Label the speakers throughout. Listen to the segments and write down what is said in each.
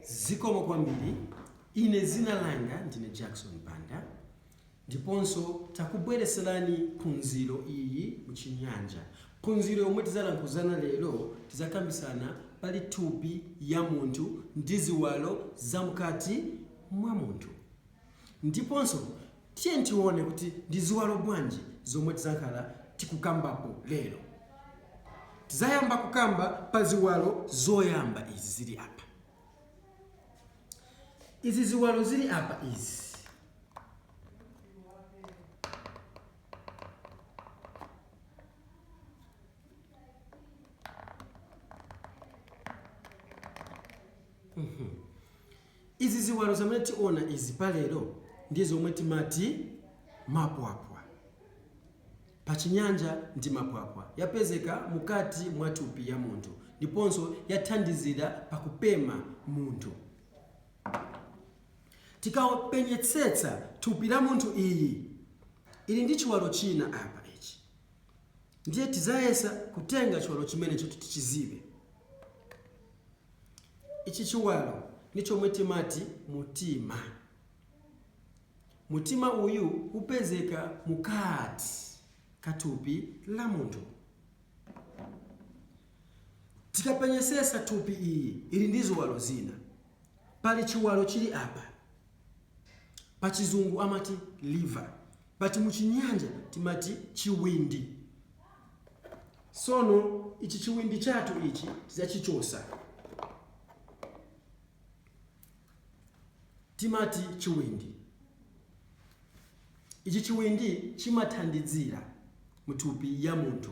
Speaker 1: zikomo kwambiri ine dzina langa ndine Jackson Banda ndiponso takubwereserani phunziro iyi muchinyanja phunziro yomwe tizalankhuzana lero tizakambisana pali thupi ya munthu ndi ziwalo zamkati mwa munthu Ndiponso, tiyeni tione kuti ndi ziwalo bwanji zomwe tizakhala tikukambapo lero. Tizayamba kukamba pa ziwalo zoyamba izi zili apa. Izi ziwalo zili apa izi, Izi ziwalo zamene tiona izi pa lero ndi zomwe timati mapwapwa. Pa chinyanja ndi mapwapwa yapezeka mukati mwa thupi ya munthu ndiponso yathandizira pa kupema munthu. Tikapenyetsetsa thupi la munthu iyi ili ndi chiwalo china apa ichi ndiye tizayesa kutenga chiwalo chimenechi kuti tichizibe. Ichi chiwalo ni chomwe timati mutima. Mutima uyu upezeka mukati ka thupi la munthu. Tikapenyesesa thupi iyi ili ndi ziwalo zina. Pali chiwalo chili apa, pachizungu amati liver, but muchinyanja timati chiwindi sono ichi chiwindi chathu ichi tizachichosa timati chiwindi ichi chiwindi chimathandizira muthupi ya munthu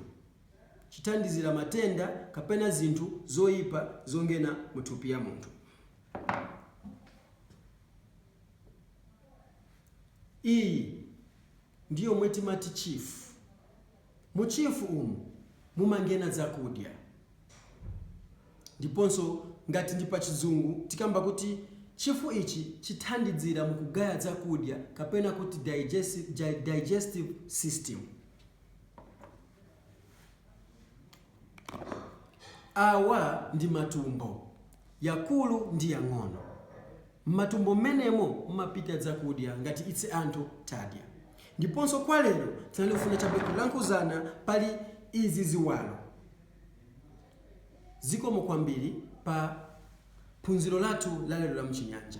Speaker 1: chithandizira matenda kapena zinthu zoyipa zongena muthupi ya munthu Iyi ndi yomwe timati chifu. Mu chifu umu mumangena dzakudya ndiponso ngati ndi pa chizungu tikamba kuti chifu ichi chithandidzira mu kugaya dzakudya kapena kuti digestive system. Awa ndi matumbo, yakulu ndi yang'ono. M'matumbo m'menemo mumapita dzakudya ngati ise anthu tadya. Ndiponso kwa lero tinalifuna chabe kulankhuzana pali izi ziwalo. Zikomo kwambiri pa phunziro lathu la lero la m'Chinyanja.